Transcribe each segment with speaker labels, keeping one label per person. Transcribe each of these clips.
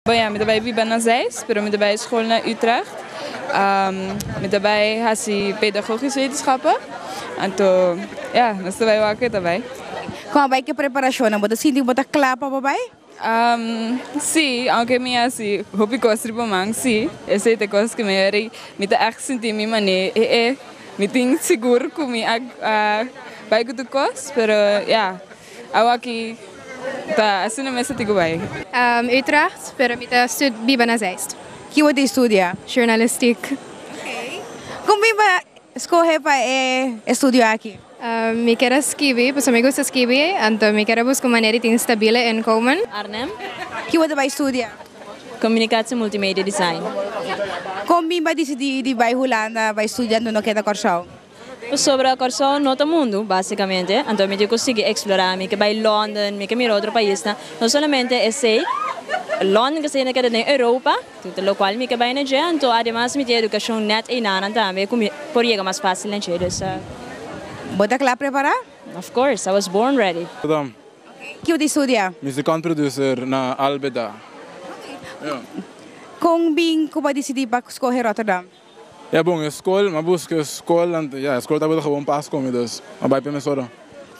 Speaker 1: Buen, mi ta bai biba na Zeist, pero mi ta bai school na Utrecht. Mi ta bai hasi pedagogisch wetenschap. Anto, ja, nos ta bai wak cu e ta bai. Con a bai cu e
Speaker 2: preparacionnan, bo ta sinti cu bo ta cla pa bo bai?
Speaker 1: Si, aunke mi hasi hopi cos riba man, si. Esey ta e cosas cu mi a yora y mi ta echt sinti mi mane, ehe, mi tin sigur cu mi a bai cu tur cos, pero ja. Awaki ta asina mes ta tiko bai. Utrecht,
Speaker 3: pero mi ta biba na Zeist. Ki bo tin studia?
Speaker 2: Journalistiek. Con bo bo scoge pa e estudio aki? Mi kier a
Speaker 3: skibi, pasobra mi gusta skibi, anto mi kier a busca un manera di tin stabile inkomen. Arnhem.
Speaker 4: Ki bo ta bai
Speaker 2: studia? Communicatie
Speaker 4: Multimedia Design. Con
Speaker 2: bo bo a dicidi di bai Hulanda bai studia anto no keda Corsow? Pasobra
Speaker 4: Kòrsou no ta mundu, básikamente, anto mi tin ku sigui eksplorá. Mi ke bai Lònden, mi ke mira otro paisnan. No solamente esei, Lònden ta siginda keda den Europa, lokual mi ke bai na dje. Anto ademas mi tin e edukashon nèt einanan tambe ku mi por yega mas fásil na dje. Dus a. Bo
Speaker 2: ta kla prepará? Of course, I was
Speaker 4: born ready. Rotterdam.
Speaker 5: Ki bo tin
Speaker 2: studia? Muzikant producer
Speaker 5: na Albeda. Kon
Speaker 2: bin ku bo a disidí pa skohe Rotterdam? Ya bon, e
Speaker 5: skol, m'a buska e skol anto ya, e skol tabata gewoon pas kome, dus m'a bai promé sor.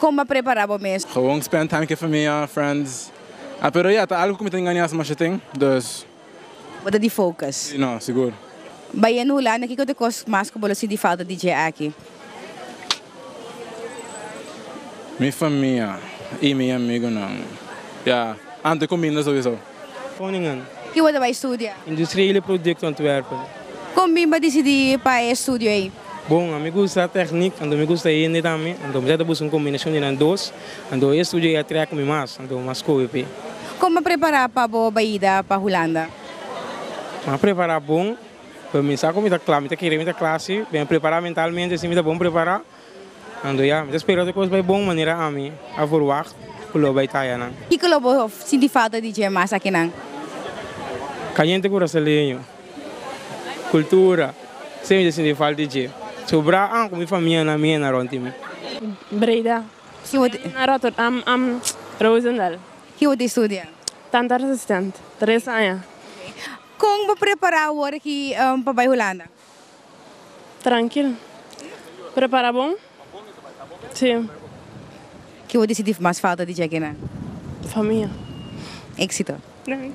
Speaker 5: Kon m'a prepará
Speaker 2: bo mes? Gewoon spend time ku e
Speaker 5: famia, friends. A pero ya, ta algu ku mi ta engañá si masha tin, dus. Bo ta di
Speaker 2: focus. Si, no, sigur.
Speaker 5: Bayendo Hulanda,
Speaker 2: kiko ta e kos mas ku bo lo sinti falta di dje aki?
Speaker 5: Mi famia y mi amigunan. Ya ante cuminda so bisao. Groningen.
Speaker 6: Ki bo ta bay
Speaker 2: studia? Industria y producto
Speaker 6: Antwerpen. Con bin bo
Speaker 2: dicidi pa e estudio ey? Bon, ami gusta
Speaker 6: techniek, anto mi gusta hende tambe, anto mi sa ta busca un combinacion di nan dos, anto e estudio ey a trek mi mas, anto mi a scoge p'e. Con bo prepara
Speaker 2: pa bo bayida pa Hulanda? Mi
Speaker 6: a prepara bon. Pero mi sa cu mi ta cla, mi ta kere, mi ta cla si, mi a prepara mentalmente si mi ta bon prepara, anto ya, mi ta spera cu e cos bai bon manera ami a verwacht cu lo bai taya nan. Kiko lo bo sinti
Speaker 2: falta di dje mas akinan?
Speaker 6: Caliente curaceleño, cultura, siempre mi ta sinti falta di dje, so bra an cu mi famia nan mi henda rond di mi. Breida.
Speaker 7: Ki bo ta.
Speaker 2: Nan Rotterdam, am
Speaker 7: Roosendaal. Ki bo ta
Speaker 2: studia? Tandarts assistent,
Speaker 7: tres aña. Kon
Speaker 2: bo prepará awor aki pa bai Hulanda?
Speaker 7: Trankil. Prepará bon. Sí.
Speaker 2: Ke bo disidí mas falta di djekina? Famia. Éksito. Danki.